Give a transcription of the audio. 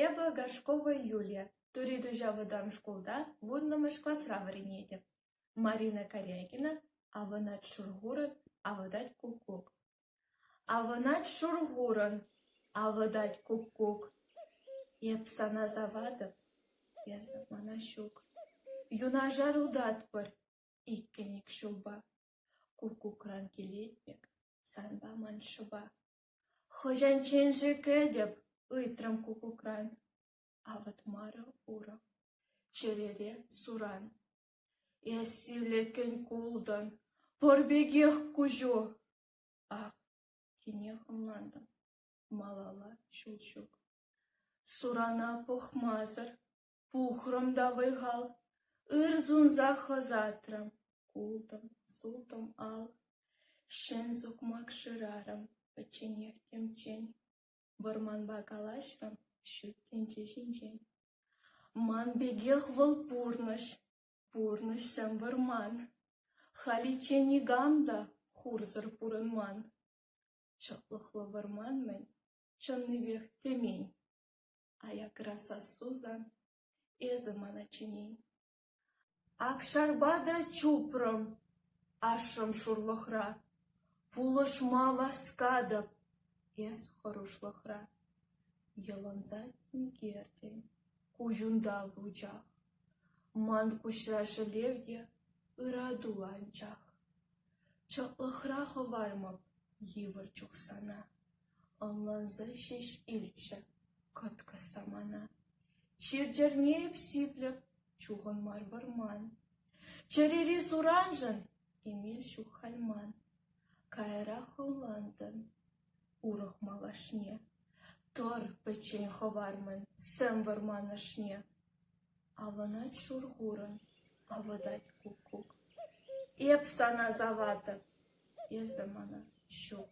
Эпӗ Горшкова Юлия, Тури Туҫа вӑтам шкулта вуннӑмӗш класра вӗренетӗп. Марина Корякина «Авӑнать Шурхурӑн, авӑтать куккук». Авӑнать Шурхурӑн, авӑтать куккук. Эп сана саватӑп, эсӗ мана ҫук. Юнашар утатпӑр иккӗн-ик ҫулпа. Куккукран килетпӗр санпа ман шӑпа. — Хӑҫанччен-ши кӗтӗп? — ыйтрӑм куккукран. Авӑтмарӗ урӑх. Чӗрере суран. Эс сивлекен култӑн. Пӑр пекех куҫу. Ак, тинех ӑнлантӑм. Малалла ҫул ҫук. Сурана пӑхмасӑр. Пухрӑм та вӑй-хал, ыр сунсах ӑсатрӑм, култӑм, сутӑм ал, ҫӗн сукмак шырарӑм, пӗчченех темччен. Вӑрманпа калаҫрӑм ҫут тӗнче ҫинчен. Ман пекех вӑл пурнӑҫ, пурнӑҫсем вӑрман. Халиччен никам та хурсӑр пурӑнман. Чӑтлӑхлӑ вӑрман-мӗн, чӑннипех тӗмен. Аякра сассусан, эсӗ ман аччен-и? Акшарпа та чупрӑм ашшӗм шурлӑхра, пулӑшма васкатӑп эс хӑрушлӑхра. Йӑлӑнса тинкертӗн куҫунта вучах, ман куҫра шӗлев те ырату анчах. Чӑтлӑхра хӑвармӑп йывӑр чухсана. Ӑнлансах ҫеҫ илчӗ кӑткӑс самана. Чир-чӗрне эп сиплӗп, чухӑн мар вӑрман. Чӗрери сураншӑн эмел ҫук халь ман. Каярах ӑнлантӑм урӑх малашне. Тӑр пӗччен хӑвармӑн сӗм вӑрман ӑшне. Авӑнать шур-хурӑн, авӑтать куккук. Эп сана саватӑп, эсӗ мана ҫук.